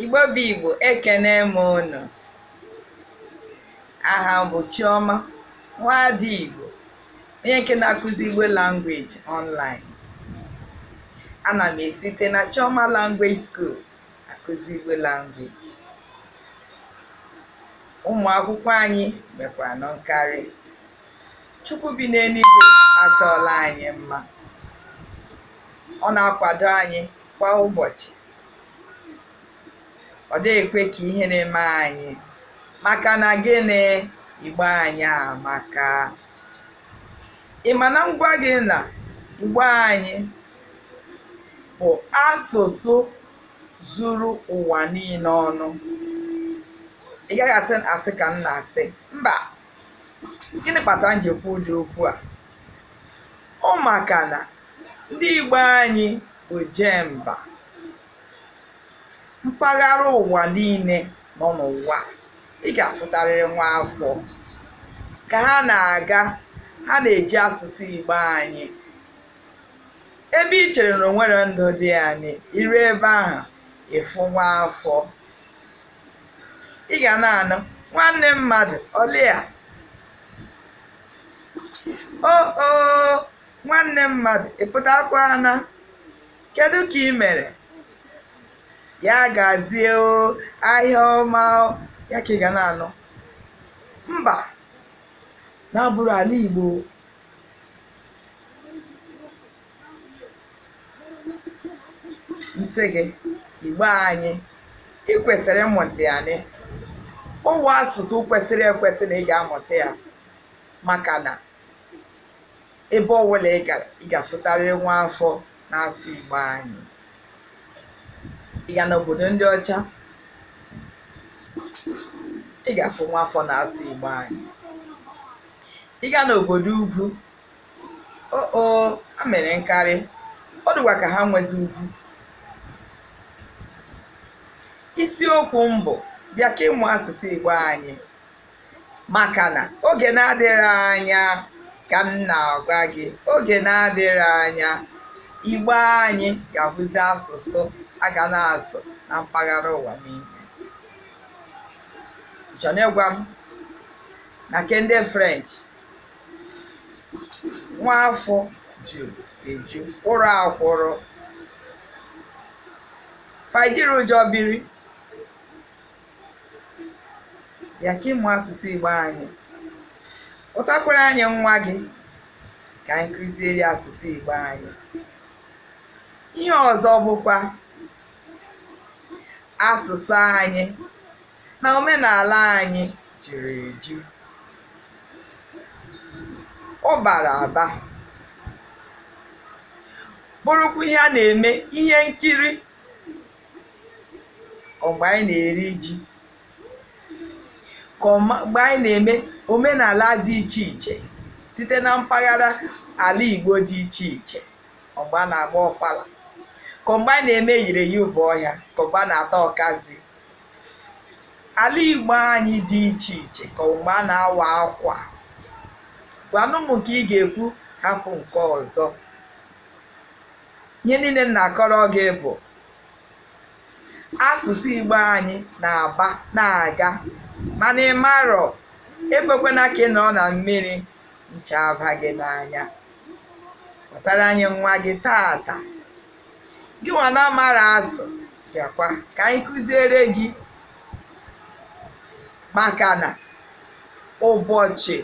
Igbo bụ Igbo ekene m unu aha m bụ Chioma nwaada Igbo onye nke na-akụzi Igbo language online ana m esite na Chioma language school akụzi Igbo language ụmụ akwụkwọ anyị mekwara nnọọ nkarị chukwu bi n'eluigwe achọọla anyị mma ọ na-akwado anyị kwa ụbọchị ọ dịghị ekwe ka ihere mee anyị maka na gịnị igbo anyị amaka ị ma na m gwa gị na igbo anyị bụ asụsụ zuru ụwa niile ọnụ ị gaghị asị asị ka m na-asị mba gịnị kpatara m ji ekwu ụdị okwu a ọ maka na ndị Igbo anyị bụ oje mba mpaghara ụwa niile nọ n'ụwa ị ga-afụtarịrị nwa afọ ka ha na-aga ha na-eji asụsụ Igbo anyị ebe i chere na o nweghị ndụ dị na ya i ru ebe ahụ ị fụ nwa afọ ị ga na-anụ nwanne mmadụ ọlịa o o nwanne mmadụ ị pụtakwana kedu ka ị mere ya gazie o ahịa ọma o ya ka ị ga na-anụ mba na-abụghị ala igbo m sị gị igbo anyị ị kwesịrị ịmụta ya na ọ wụ asụsụ kwesịrị ekwesị na ị ga-amụta ya maka na ebe ọbụla ị gara ị ga-afụtarịrị nwa afọ na-asụ igbo anyị ị ga n'obodo ndị ọcha ị ga-afụ nwa afọ na-asụ igbo anyị ị ga n'obodo ugwu oo ha mere nkarị ọ dịkwa ka ha nwezi ugwu isiokwu m bụ bịa ka ị mụọ asụsụ igbo anyị maka na oge na-adịghị anya ka m na-agwa gị oge na-adịghị anya igbo anyị ga-abụzi asụsụ a ga na-asụ na mpaghara ụwa niile chọna ịgwa m na nke ndị french nwaafọ ju eju kwụrụ akwụrụ fa jiri ụjọ biri ya ka ị mụọ asụsụ igbo anyị kpọtakwara anyị nwa gị ka anyị kụziere asụsụ igbo anyị ihe ọzọ bụkwa asụsụ anyị na omenala anyị juru eju ọ bara aba bụrụkwa ihe a na-eme ihe nkiri ọ mgbe anyị na-eri ji ka ọ ma- mgbe anyị na-eme omenala dị iche iche site na mpaghara ala Igbo dị iche iche ọ mgbe a na-agba ọfala ka ọ mgbe anyị na-eme yiri ya ụbọ ọhịa ka ọ mgbe a na-ata ọkazị ala igbo anyị dị iche iche ka mgbe a na-awa akwa gwanụ m nke ị ga-ekwu hapụ nke ọzọ ihe niile m na-akọrọ gị bụ asụsụ igbo anyị na-aba na-aga mana ị marọ ekwekwana ka ị nọ na mmiri ncha aba gị n'anya kpọtara anyị nwa gị taata gị nwa na-amarọ asụ bịakwa ka anyị kụziere gị maka na ụbọchị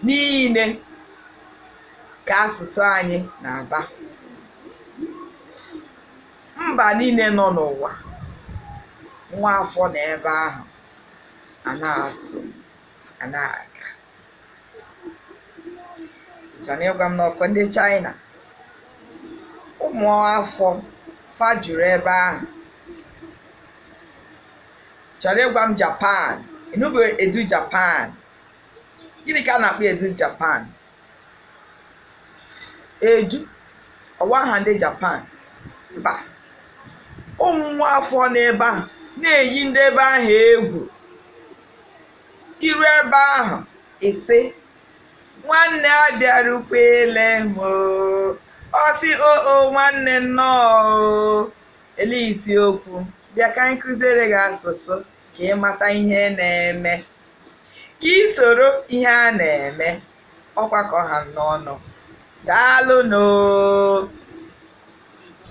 niile ka asụsụ anyị na-aba mba niile nọ n'ụwa nwa afọ nọ ebe ahụ a na-asụ a na-aga chọrọ ịgwa m na ọ bụ ndị China ụmụ afọ fa juru ebe ahụ chọrọ ịgwa m Japan ị nụbu edu Japan gịnị ka a na-akpọ edu Japan edu ọ wụ aha ndị Japan mba ụmụ afọ nọ ebe ahụ na-eyi ndị ebe ahụ egwu i ruo ebe ahụ ị sị nwanne abịarukwele m oo ọ sị oo nwanne nnọọ oo elee isiokwu bịa ka anyị kụziere gị asụsụ ka ị mata ihe na-eme ka ị soro ihe a na-eme ọ bụ ka ọ ha m n'ọnụ daalụnụ oo